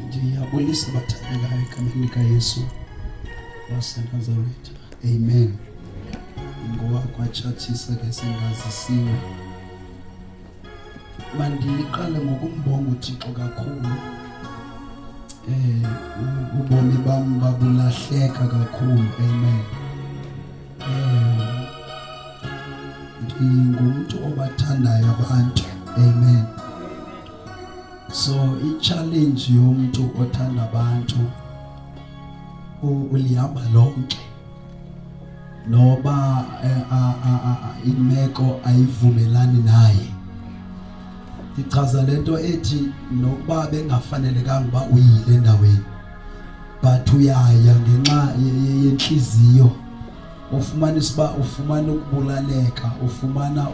ndiyabulisa bathandekayo egameni likayesu wasenazaretha amen ngoba kwatshatshisa ke singazisiwe mandiqale ngokumbonga uthixo kakhulu eh ubomi bam babulahleka kakhulu amen eh ndingumntu obathandayo abantu amen so i-challenge yomntu othanda abantu ulihamba lonke noba eh, imeko ayivumelani naye ichaza le nto ethi nokuba bengafanelekanga uba uyile endaweni but uyaya ngenxa yentliziyo ufumanisa uba ufumana ukubulaleka ufumana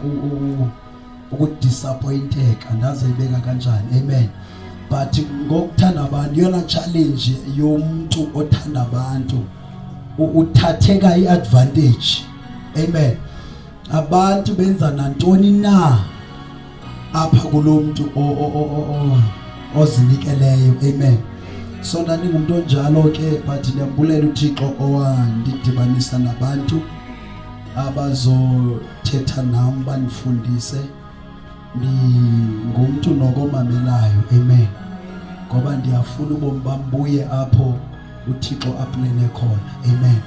ukudisappointeka ndaze ibeka kanjani amen but ngokuthanda abantu yona challenge yomuntu othanda abantu uthatheka iadvantage amen abantu benza nantoni na apha kulomuntu ozinikeleyo amen so ndandingumntu onjalo ke but ndiyambulela uthixo owandidibanisa nabantu abazothetha nam bandifundise ndingumntu nokomamelayo amen ngoba ndiyafuna ubomi bam buye apho uthixo aplene khona amen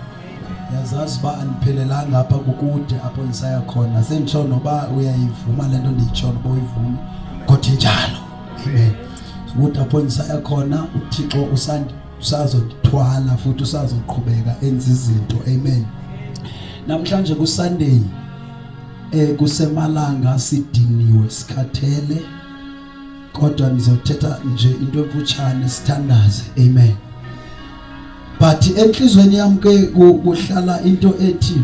yazazi uba andiphelelanga apha kukude apho ndisaya khona senditsho noba uyayivuma le nto ndiyitsho noba uyivumi kodwa injalo amen ukuthi apho ndisaya khona uthixo usandi usazothwala futhi usazoqhubeka enza izinto amen namhlanje ku Sunday eh kusemalanga sidiniwe sikhathele kodwa ngizothetha nje into emfutshane sithandaze amen but enhlizweni yami ke kuhlala into ethi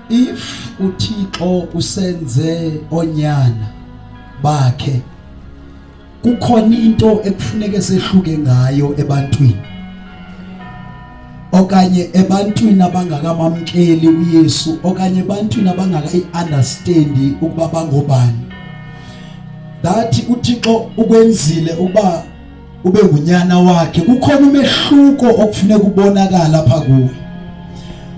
if uThixo usenze onyana bakhe kukhona into ekufuneke sehluke ngayo ebantwini okanye ebantwini abangakamamkeli uYesu okanye ebantwini abangakayiunderstand ukuba bangobani that uThixo ukwenzile ukuba ube ngunyana wakhe kukhona umehluko okufuneka ubonakala pha kuwe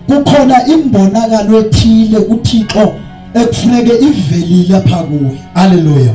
kukhona imbonakalo ethile uThixo ekufuneke ivelile pha kuwe haleluya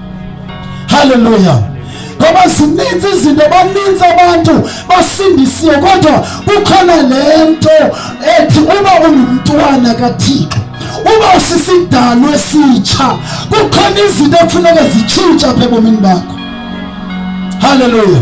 haleluya ngoba zininzi izinto baninzi abantu basindisiwe kodwa kukhona le nto ethi uba ungumntwana kathixo uba usisidalo esitsha kukhona izinto ekufuneka zitshintsha apha ebomini bakho haleluya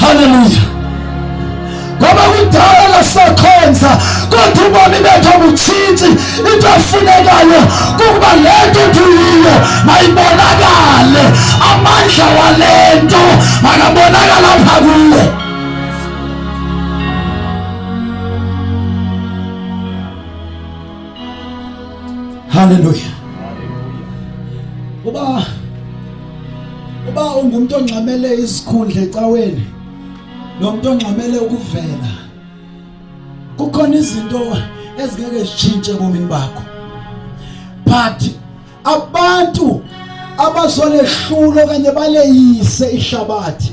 Haleluya! Ngoba kudala sakhonza kodwa ubomi bethu butshintshi. Into efunekayo kukuba le nto tuyiyo mayibonakale, amandla wale nto makabonakala apha kuwe. Haleluya! Uba uba ungumntu ongxamele izikhundla ecaweni nomntu ongxamele ukuvela kukhona izinto ezingeke zitshintshe ebomini bakho but abantu abazolehlulo okanye baleyise ihlabathi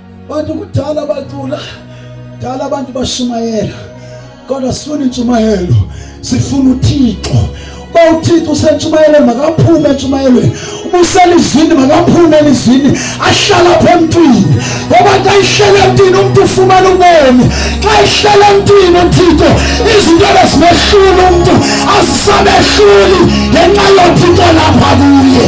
Abantu kudala bacula, kudala abantu bashumayela, kodwa sifuna intshumayelo, sifuna uThixo. Uba uThixo usentshumayelweni makaphume entshumayelweni, uba uselizwini makaphume elizwini, ahlale apha emntwini. Ngoba xa ihlele emntwini umntu ufumana ubomi. Xa ihlele emntwini uThixo izinto ebezimehlula umntu azisamehluli ngenxa yoThixo lapha kuye.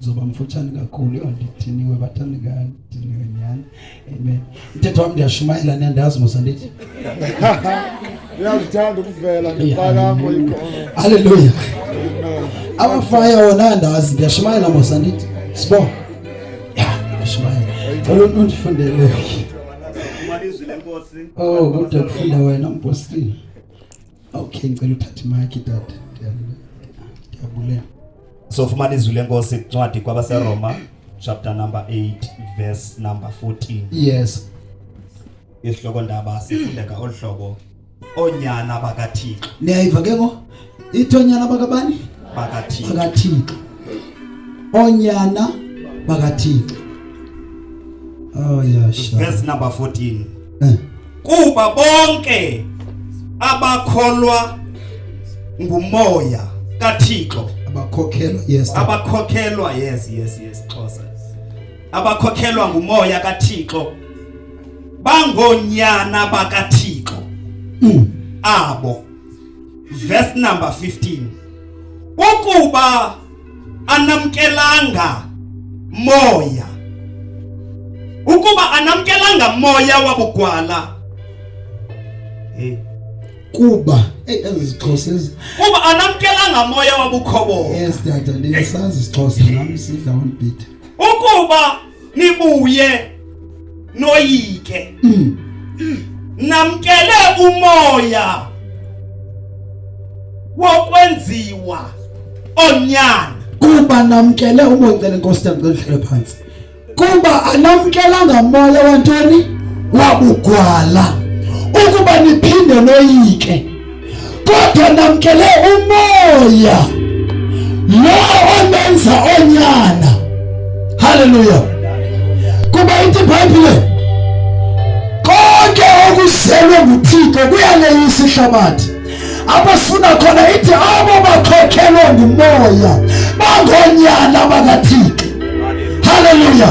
zoba mfutshane kakhulu andidiniwe bathanda kandiniwe nyhani amen mthetho wam ndiyashumayela niyandazi mosa ndithi uyazithanda ukuvela ngipakamo halleluya amafaya wona andazi ndiyashumayela mosa ndithi sibo ya ndiyashumayela cela umntu undifundele oh kodwa kufunda wena mpostile Okay, ngicela uthathe imayiki tata. Ndiyabulela. So fumana izwi lenkosi incwadi kwabaseRoma chapter number 8 verse number 14. Yes. Isihloko ndaba sifundeka olu hlobo onyana bakaThixo. Niyayiva ke ngo? Ithi onyana bakabani? BakaThixo. BakaThixo. Onyana bakaThixo. Oh yeah, sure. Verse number 14. eh. kuba bonke abakholwa ngumoya kaThixo abakhokhelwa yes abakhokhelwa yes yes yes Xhosa abakhokhelwa ngumoya kaThixo bangonyana bakaThixo mm. abo verse number 15 ukuba anamkelanga moya. Ukuba anamkelanga moya wabugwala hey. Eh. Kuba hey, ezi zixhosa ezi kuba anamkelanga moya wabukhobo. Yes dada, ndiyasazi isixhosa nami sidla one bit. Ukuba nibuye noyike mm. namkele umoya wokwenziwa onyana kuba namkele umoncele nkosi yam ngelihlele phansi kuba anamkelanga moya wantoni wabugwala ukuba niphinde noyike kodwa namkele umoya lo omenza onyana haleluya kuba ithi ibhayibhile konke okuzelwe nguthixo kuyaleyisa ihlabathi abafuna khona ithi abo bakhokhelwe ngumoya bangonyana bakathixo haleluya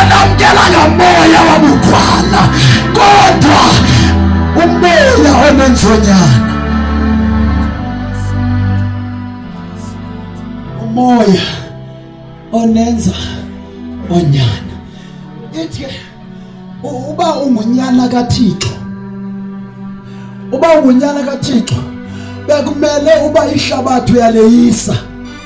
anamkela ngamoya wabukhwana kodwa umoya onenzonyana umoya onenza onyana ithi uba ungunyana kaThixo uba ungunyana kaThixo bekumele uba ihlabathi uyaleyisa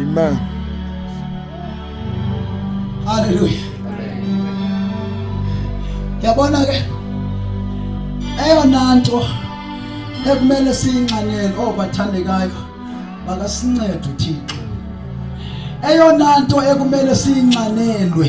Amen. Hallelujah. Yabona ke eyona nto ekumele siyinxanele obathandekayo oh, bakasincedo uThixo. Eyona nto ekumele siyinxanelwe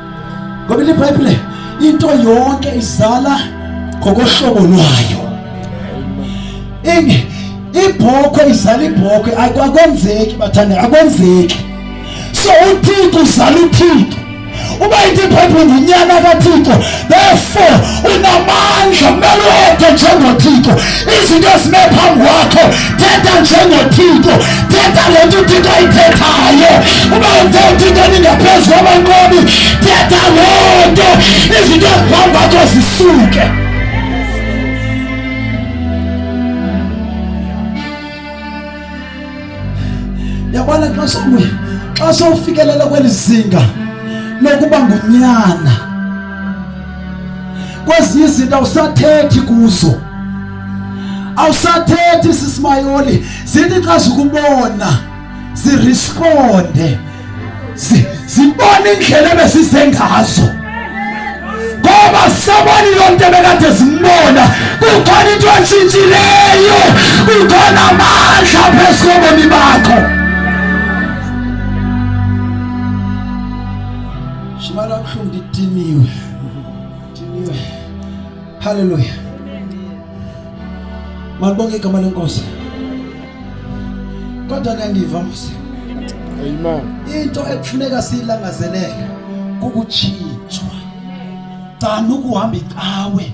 Ngoba iBhayibhile into yonke izala ngokohlobo lwayo. Ingi ibhokhwe izala ibhokhwe akwenzeki bathanda akwenzeki. So uThixo uzala uThixo. Uba into iBhayibhile ngunyana kaThixo therefore unamandla kumele uwedwe njengothixo izinto ezime phambi kwakho thetha njengothixo thetha le nto uthixo ayithethayo uba uthe uthixo ningaphezu kwabanqobi thetha loo nto izinto eziphambi kwakho zisuke yabona xa sowuye xa sowufikelela kweli zinga lokuba ngunyana kwezinye izinto awusathethi kuzo awusathethi sisimayoli zithi xa zikubona ziresponde zibona indlela ebesize ngazo ngoba sabona iyo nto ebekade zimbona kukhona into entshintshileyo kukhona amandla phezu kobomi bakho Shimala kabuhlungu ndidiniwe. Ndidiniwe. Hallelujah. Malibonge igama lenkosi. Kodwa ngiyandiva Musa. Amen. Into ekufuneka siyilangazelele kukutshintsha. Cana ukuhamba icawe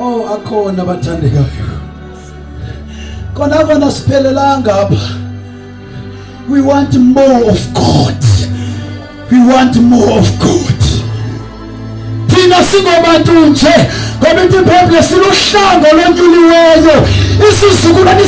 Oh akhona abathandekayo. Kona kona siphelelanga apha. We want more of God. We want more of God. Thina singobantu nje ngoba into iBhayibhile siluhlango lonyuliweyo isizukulwane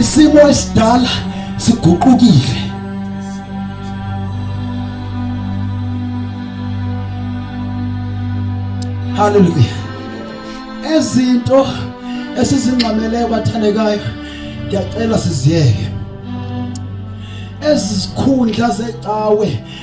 isimo esidala siguqukile haleluya ezinto esizingxameleyo bathandekayo ndiyacela siziyeke ezi zikhundla zecawe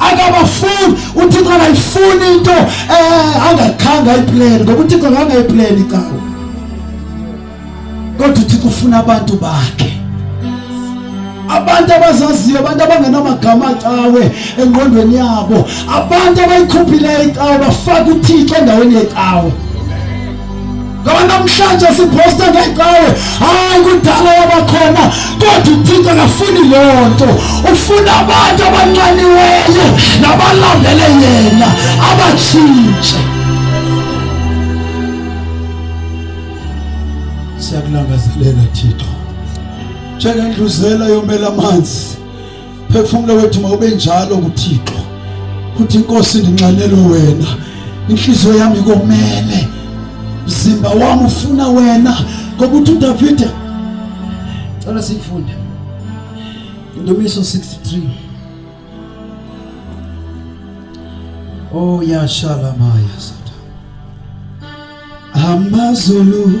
akabafuni uthixo akayifuni into eh, angakhanga ipleni ngoba uthixo akanga ipleni cawo kodwa uthixo ufuna abantu bakhe abantu abazaziyo abantu abangenamagama acawe engqondweni yabo abantu abayikhuphileyo icawe bafaka uthixo endaweni yecawe ngoba namhlanje sibhosta ngecawe hayi kudala yabakhona kodwa uthixo akafuni loo nto ufuna abantu abancaniweyo nabalandele yena abatshintshe siyakulangazelela thixo njengendluzela yomela amanzi phefumlo wethu mawube njalo kuthixo futhi inkosi ndinxanele wena inhliziyo yami ikomele mzimba wami ufuna wena ngoba uthi udavide cela siyifunde indumiso 63 oh yashalamaya sata amazulu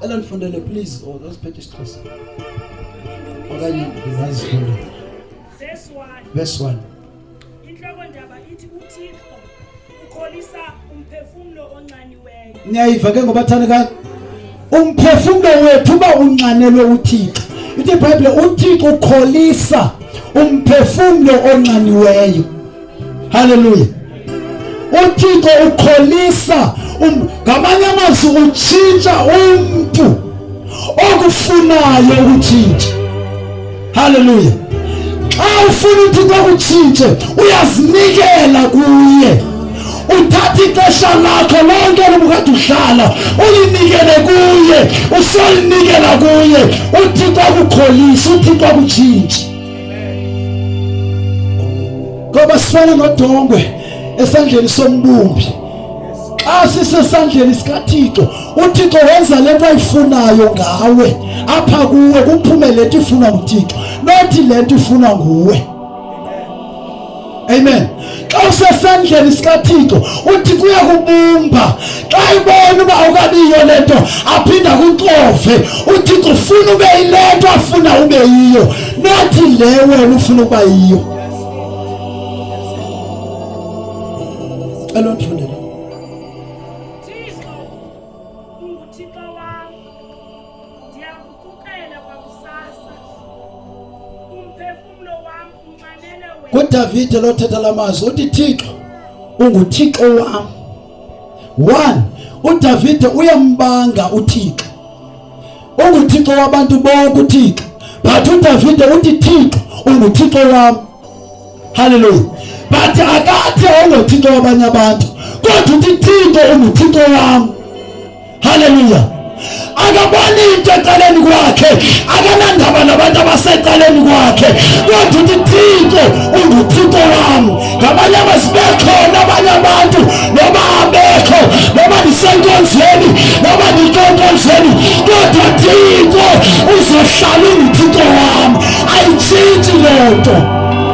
cela ndifundele please or oh, zasiphethe isixhosa okanye ndingazifunde verse 1 intloko ndaba ithi uthixo ukholisa umphefumlo onxaniweyo niyayiva ke ngobathandekayo umphefumlo wethu uba unxanelwe uthixo ithi ibhayibhile uthixo ukholisa umphefumlo onxaniweyo Haleluya. UThixo ukholisa um, ngamanye amazwi utshintsha umntu okufunayo ukutshintsha. Haleluya. Xa ufuna uThixo akutshintshe uyazinikela kuye. uthatha ixesha lakho lonke lobukade udlala ulinikele kuye usolinikela kuye uthixo akukholise uthixo akutshintshe ngoba sifana nodongwe esandleni sombumbi xa sisesandleni sikathixo uthixo wenza le nto ayifunayo ngawe apha kuwe kuphume le nto ifunwa nguthixo nothi le nto ifunwa nguwe amen xa usesandleni sikathixo uthi kuye kubumba xa ibona uba ukabiyo le nto aphinda kuxove uthi kufuna ube yile nto afuna ube yiyo nathi le wena ufuna ukuba yiyo cela undifundele kudavide lothetha la mazwi uthi thixo unguthixo wam one udavide uyambanga uthixo unguthixo wabantu bonke uthixo but udavide uthi thixo unguthixo wam halleluya but akathi awungothixo wabanye abantu kodwa uthi thixo unguthixo wam Haleluya. akaboni into ecaleni kwakhe akanandaba nabantu abasecaleni kwakhe kodwa uthi thixo unguthixo wam ngabanye abazibekhona abanye abantu noba abekho noba ndisenkonzweni noba ndikonkonzweni kodwa thixo uzohlala unguthixo wam ayitshintshi loo nto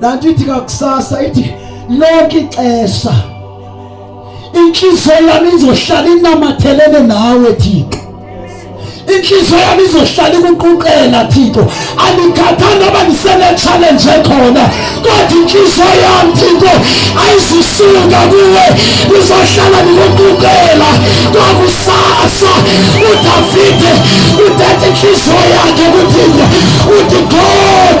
laa nto ithi kakusasa ithi lonke ixesha intliziyo yam izohlala inamathelene nawe thixo intliziyo yam izohlala ikuquqela thixo andikhathanga uba ndisenetshalenje khona kodwa intliziyo yam thixo ayizisuka kuwe ndizohlala ndikuquqela kwakusasa udavide uthetha intliziyo yakhe kuthixo uthi god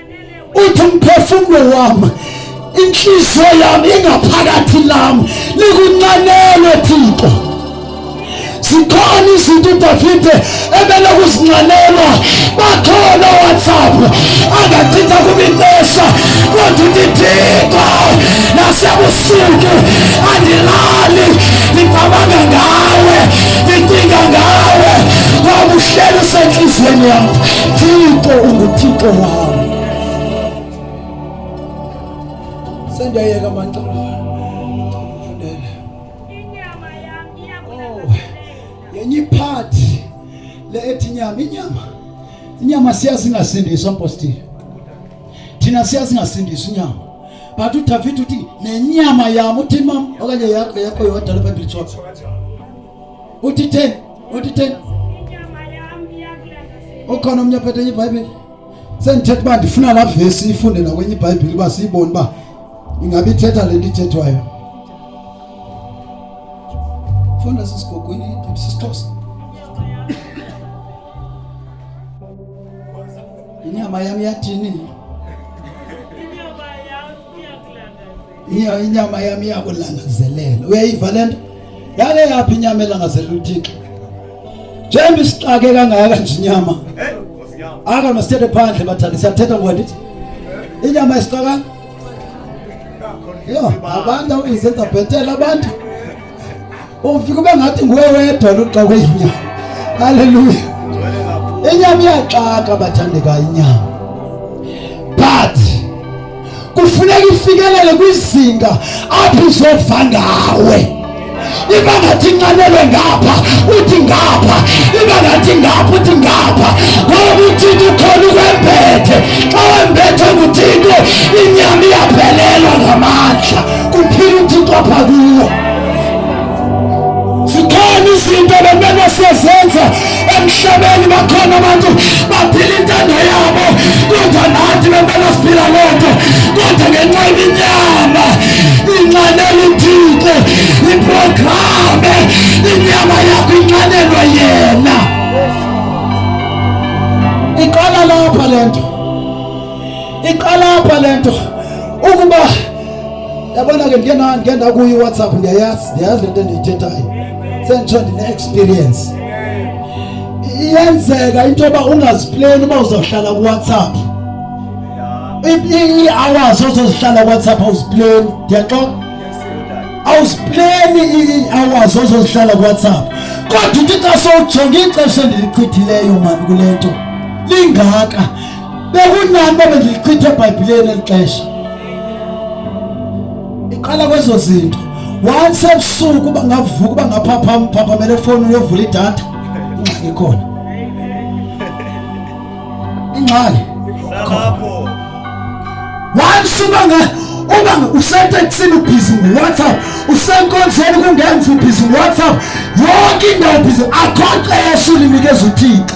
uthi umphefumlo wami inhliziyo yami ingaphakathi lami likuncanelwe thixo zikhona izinto udavide ebele kuzincanelwa bakhona owhatsapp angachitha kubinqesha kodwa uthi thixo nasebusuku andilali ngicabanga ngawe ndicinga ngawe wabuhleli usentliziyweni yam Thixo unguThixo wam. Sendiyayeka manxeba. Fundela. Inyama yam iyakulangazelela. Yenye part le ethi inyama, inyama. Inyama siyazi ingasindiswa mpostile. Thina siyazi ingasindiswa inyama. But uDavid uthi nenyama yam uthi mam okanye yakho yakho yodwa le Bible ichocha. utiten utiten ukhona omnye ophethe ibhayibhile sendithetha uba ndifuna laa vesi ifunde nakwenye ibhayibhile uba siyibone uba ingabe ithetha le nto ithethwayo funda sisigogweni sisixhosa inyama yam yathini Iya inyama yami iyakulangazelela. Uyayiva le nto? Yale yaphi inyama elangazelela uThixo? Njengoba isixake kangaka nje inyama. Aka masithethe phandle bathandi siyathetha ngwandithi. Inyama isixaka? Yo, abantu abayizenza bhetela abantu. Ufika ube ngathi nguwe wedwa luxoke inyama. Haleluya. Inyama iyaxaka bathandeka inyama. But kufuneka ifikelele kwizinga apho izova ngawe iba ngathi incanelwe ngapha uthi ngapha iba ngathi ngapha uthi ngapha ngoba uthixo ukhona ukwembethe xa wembethe nguthixo inyama iyaphelelwa ngamandla kuphila uthixo apha kuwo zikhona izinto bemele siyazenza emhlabeni bakhona abantu baphila intando yabo kodwa nathi bemele siphila loo nto kodwa ngenxa iminyama inxanela uthixo iprograme inyama yakho inxanelwa yena iqala lapha le nto iqala apha le nto ukuba Yabona ke ndike na ndike ndakuyo iWhatsApp ndiyayazi ndiyayazi lento endiyithethayo. Senditsho ndine experience. Iyenzeka into yoba ungazipleni uba uzawuhlala kuWhatsApp. Ii-hours ozozihlala kuWhatsApp awuzipleni ndiyaxoka. Awuzipleni ii-hours ozozihlala kuWhatsApp. Kodwa uthi xa sowujonga ixesha endilichithileyo mani kule nto lingaka bekunani babe ndilichithe ebhayibhileni eli xesha iqala kwezo zinto once ebusuku uba ngavuka uba ngaphapham phaphamele efowuni uyovula idatha ingxaki ikhona ingxaki once uba uba useteksini ubhizi ngowhatsapp usenkonzeni kungenza ubhizi ngowhatsapp yonke indawo ubhizi akho xesha ulinikeza uthixo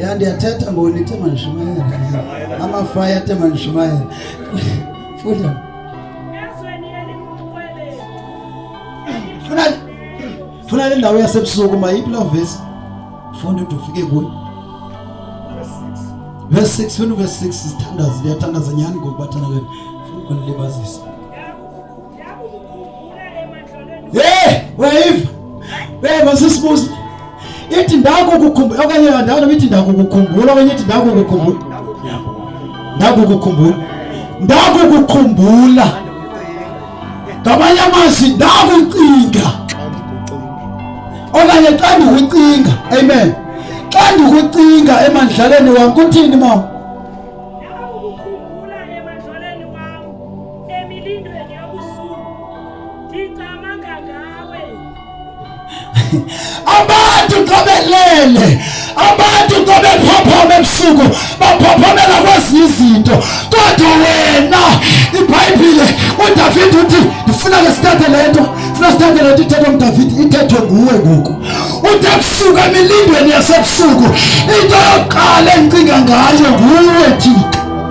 yandi athetha mboni ithe mandishumayele amafaya athe mandishumayele funda funa funa le ndawo yasebusuku mayiphi loo vesi funda ude ufike kuyo verse 6 funa uverse 6 sithandaza liyathandaza nyhani ngokubathana kwenu funa ukunilibazisa Hey, wave. Wave asisibuze. Ithi ndako kukhumbula okanye ndawo nobithi ndako kukhumbula okanye ithi ndako kukhumbula. Ndako kukhumbula. Ndako kukhumbula. Ngamanye amazwi ndako ucinga. Okanye xa ndikucinga. Amen. Xa ndikucinga emandlaleni wam kuthini mama? abantu qobelele abantu qobephophoma ebusuku baphophomela kwezinye izinto kodwa wena ibhayibhile udavide uthi ndifuna ke sithathe le nto funa sithathe le nto ithethwa ngudavide ithethwe nguwe ngoku uthi ebusuku emilindweni yasebusuku into yokuqala endicinga ngayo nguwe thixo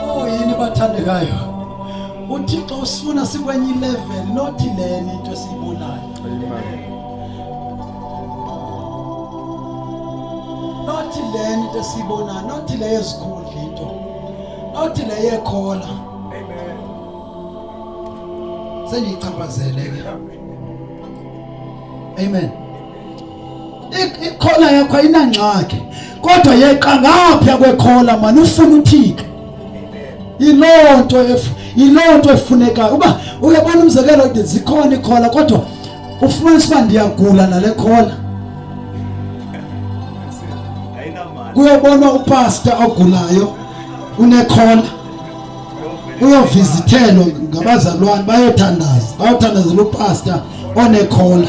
Oh yini bathandekayo. UThixo usifuna sikwenye level not leni into esiyibonayo. Amen. Not leni into esiyibonayo, not le yezikhundla into. Not le yekhola. Amen. Sengiyichaphazele ke. Amen. ikhola yakho ayinangxaki kodwa yeqa ngaphya kwekhola mani ufuna uthixo yiloo nto yiloo nto efunekayo uba uyabona umzekelo zikhona ikhola kodwa ufumanisa uba ndiyagula nale khola kuyobonwa upasta ogulayo unekhola uyovizithelwa ngabazalwane bayothandaza bayothandazela upasta onekhola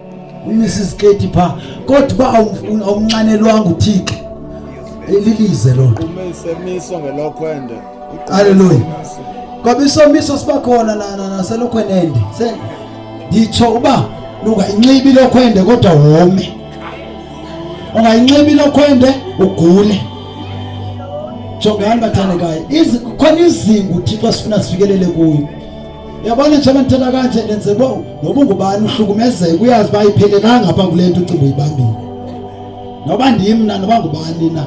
umisa iziketi phaa kodwa uba awumnxanelwanga uthixo lilize loo nto aleluya ngoba isomiso siba khona naselokhwenende nditsho uba lungayinxibi ilokhwende kodwa wome ungayinxibi ilokhwende ugule jongani bathandekayo khona izingu uthixo asifuna sifikelele kuyo yabona njengoba ndithetha kanje ndenze bo noba ungubani uhlukumezeka uyazi uba ayiphelelanga apha kule nto ucinga uyibambile noba ndimna noba ngubani na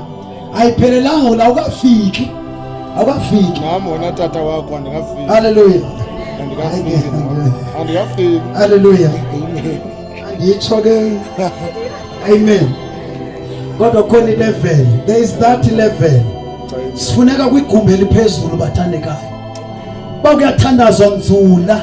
ayiphelelanga ula ukafiki awukafiki nam wona tata wakho andikafiki halleluya andikafiki andikafiki halleluya anditsho ke Amen. Kodwa khona ilevel. There is that level. Sifuneka kwigumbi eliphezulu bathandekayo. Bakuyathandazwa nzula.